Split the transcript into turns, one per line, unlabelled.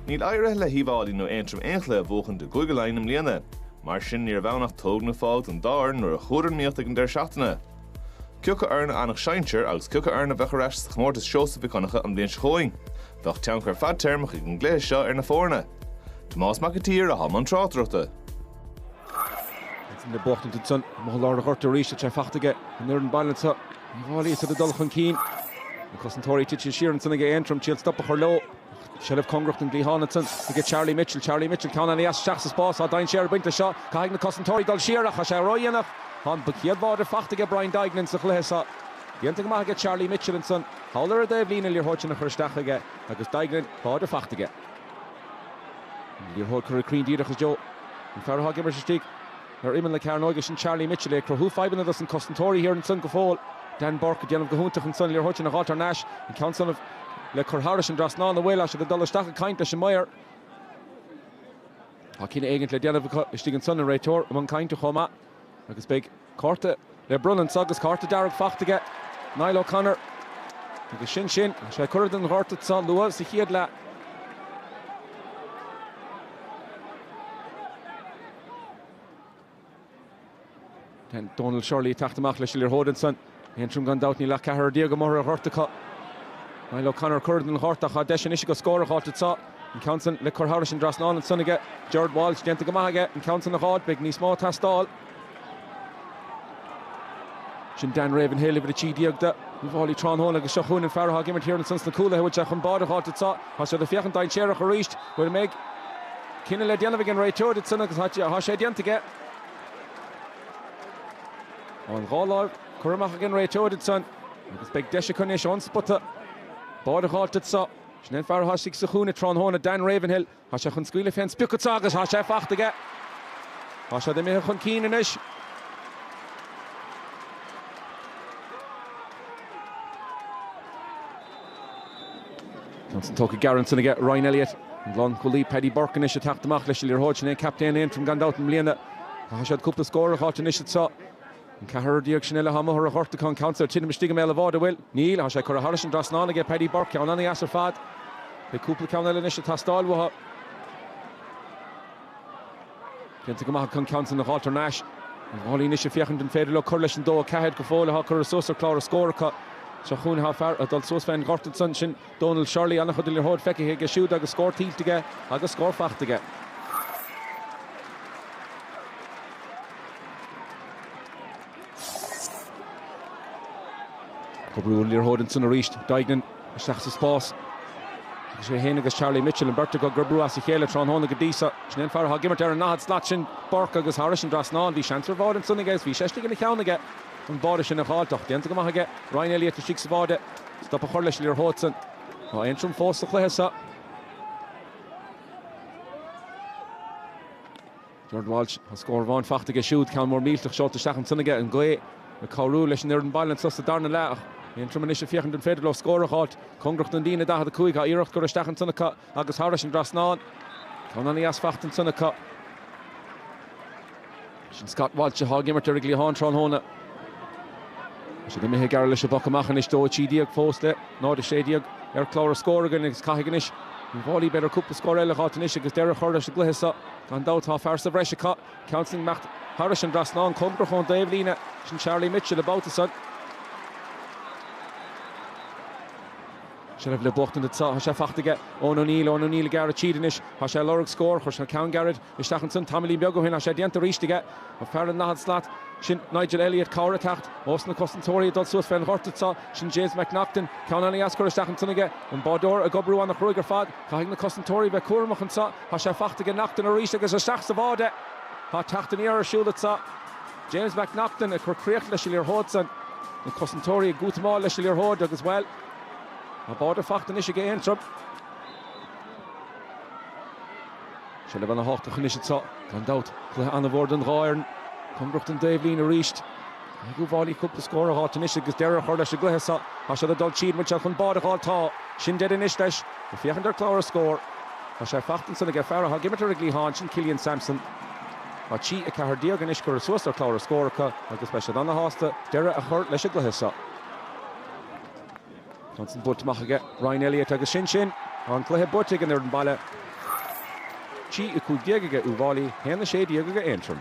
Níl éirithe le hUíbh Fháilí nó Aontroim aon chluiche a bhuachan i gCúige Laighean i mbliana. Mar sin níorbh ann ach tóg nó fág don dá fhoireann nuair a chuadar in iomaíocht ag an deireadh seachtaine. Cioca foireann a fhanfadh sinsear agus cioca foireann a bheadh ar ais sa chomórtas Seosamh Mhic Dhonncha an bhliain seo chugainn. Bheadh tionchar fadtéarmach ag an gcluiche seo ar na foirne. Tomás Mac a tSaoir athá i mbun tráchtaireachta.
Thaitin na buachtaint ansan, amuigh i lár an ghoirt arís tá sé faighte aige an fhoireann baile anseo. Uíbh Fháilí is iad ag dul chun cinn. Na cosantóirí tite siar ansan aige Aontroim, triail stop a chur leo, ach seilbh cóngarach don gcliathán ansan aige Charlie Mitchell. Charlie Mitchell, ceann an-deas isteach sa spás, tá dainséar ag baint leis seo. Caithfidh na cosantóirí dul siar, ach tá sé ródhéanach. Tá an chéad bháide faighte aige Brian Duignan sa chluiche seo. Déanta go maith aige Charlie Mitchell ansan, thall ar an dtaobhlíne, liathróid sin a chur isteach aige agus Duignan, báide faighte aige. An liathróid curtha cruinn díreach i dtreo an fear atá ag imirt istigh ar imeall na cearnóige, is sin Charlie Mitchell é, ag cruthú fadhbanna dos na cosantóirí thiar ansan go fóill. Dan Bourke ag déanamh go hiontach ansan, liathróid sin a dh'fháilt thar n-ais, an ceann san le cur thairis an trasnán an bhfuil? Tá siad ag dul isteach ag caint leis an maor. Tá cinneadh éigint le déanamh acu istigh ansan, an réiteoir i mbun cainte chomh maith, agus beidh. Cárta le bronnadh anso agus cárta dearg faighte aige Niall O'Connor agus sin sin. Tá sé curtha den ghort anso luath sa chéad leath. Dónal Shirley ag teacht amach leis an liathróid ansan. Aontroim gan dabht, níl ach ceathrar déag amuigh ar an ghort acu. Niall O'Connor curtha den ghort ach tá deis anois aige scór a dh'fháilt anso. An ceann san le cur thairis an dtrasnán ansan aige Gerard Walsh. Déanta go maith aige an ceann san a dh'fháilt. Beidh níos mó ag teastáil. Sin Dan Ravenhill, uimhir a trí déag do Uíbh Fháilí tráthnóna agus seo chugainn an fear atá ag imirt thiar ansan sna cúlaithe a bhfuil sé chun báide a dh'fháilt anso. Tá siad ag féachaint dainséarach arís. B'fhéidir mbeidh cinneadh le déanamh ag an réiteoir ansan agus tá sé déanta aige. An dhá láimh curtha amach ag an réiteoir ansan agus beidh deis acu anois ón spota báide a dh'fháilt anso. Sin é an fear a thosaigh sa chúinne tráthnóna, Dan Ravenhill. Tá sé chun scaoileadh fén sprioc anso agus tá sé faighte aige. Tá siad imithe chun cinn anois. Ceann san tógtha gearr ansan aige Ryan Elliott. An lánchúlaí Paddy Burke anois ag teacht amach leis an liathróid. Sin é an captaen Aontroim gan dabht i mbliana. Caithfidh siad cúpla scór a dh'fháilt anois anseo. An ceathrar déag sin eile atá amuigh ar an ghort acu, an ceann san ag titim istigh i mbéal an bháide, an bhfuil? Níl, tá sé curtha thairis an dtrasnán aige Paddy Burke, ceann an-deas ar fad. Beidh cúpla ceann eile anois ag teastáil uathu. Déanta go maith chun an ceann san a dh'fháilt thar n-ais. Uíbh Fháilí anois ag féachaint an féidir leo cur leis an 2-4 go fóill athá curtha suas ar chlár na scór acu. Seo chugainn athá fear ag dul suas fén ghort ansan, sin Donal Shirley. An-chuid liathróid feicthe aige siúd agus scór tuillte aige agus scór faighte aige. Ag brú an liathróid ansan arís. Duignan. isteach sa spás. Agus sé fhéin agus Charlie Mitchell, an beirt acu ag obriú as a chéile tráthnóna go dtí seo, sin é an fear atá ag imirt ar an ndaichead slat sin, Bourke, agus thairis an dtrasnán, bhí seans ar bháide ansan aige, agus bhí sé istigh ina cheann aige, an báide sin a dh'fháilt, ach déanta go maith aige, Ryan Elliott istigh sa bháide, stop a chur leis an liathróid san. Tá Aontroim fós sa chluiche seo. Gerard Walsh, an scór amháin faighte aige siúd, ceann mór millteach seolta isteach ansan aige, an gaoth ag cabhrú leis an fhoireann baile anso sa darna leath, Aontroim anois ag féachaint an féidir leo scór a dh'fháilt. Cóngarach don líne 45, iarracht curtha isteach ansan acu agus thairis an trasnán, ceann ana-dheas faighte ansan acu. Sin Scott Walsh athá ag imirt ar an gcliathán tráthnóna. Tá siad imithe gearr leis an bpoc amach anois, 2 13 fós dtí 0 16 ar chlár an scór againn agus caithfidh anois Uíbh Fhailí b'fhéidir cúpla scór eile a dh'fháilt anois agus deireadh a chur leis an gcluiche so. Gan dabht tá fear sa bhreis acu, ceann san ag imeacht thairis an dtrasnán cóngarach don dtaobhlíne. Sin Charlie Mitchell an babhta san. Seilbh le buachtaint anseo. Tá sé faighte aige Eoin O'Neill. Eoin O'Neill ag gearradh tríd anois. Tá sé ag lorg scór. Chuir sé ceann gairid isteach ansan tamaillín beag ó shin. Tá sé déanta arís aige. Tá fear ar an ndaichead slat sin Nigel Elliott cabhair ag teacht ós na cosantóirí ag dul suas fén ghort anseo. Sin James McNaughton. Ceann ana-dheas curtha isteach ansan aige. An báideoir ag obriú ana chruaidh ar fad. Caithfidh na cosantóirí bheith cúramach anseo. Thá sé faighte aige Neachtain arís agus isteach sa bháide. Tá teacht aniar ar siúl anso. James McNaughton ag cur críoch leis an liathróid san. Na cosantóirí ag útamáil leis an liathróid agus, bhuel, tá báide faighte anois aige Aontroim. Seilbh ana-thábhachtach anois anso, gan dabht. Cluiche an-mhór don dhá fhoireann. Cóngarach don dtaobhlíne arís. Tá gá d'Uíbh Fhailí cúpla scór a dh'fháilt anois agus deireadh a chur leis an gcluiche so. Tá siad ag dul tríd, an bhfuil siad chun báide a dh'fháilt? Tá. Sin deireadh anois leis. Ag féachaint ar chlár an scór. Tá sé faighte ansan ag an fear athá ag imirt ar an gcliathán, sin Killian Sampson. Tá 3 14 anois curtha suas ar chlár an scór acu agus beidh siad ana-shásta deireadh a chur leis an gcluiche so. Ceann san buailte amach aige Ryan Elliott agus sin sin! Tá an cluiche buaite ag an fhoireann baile. 3:15 aige Uíbh Fhailí 1:16 aige Aontroim.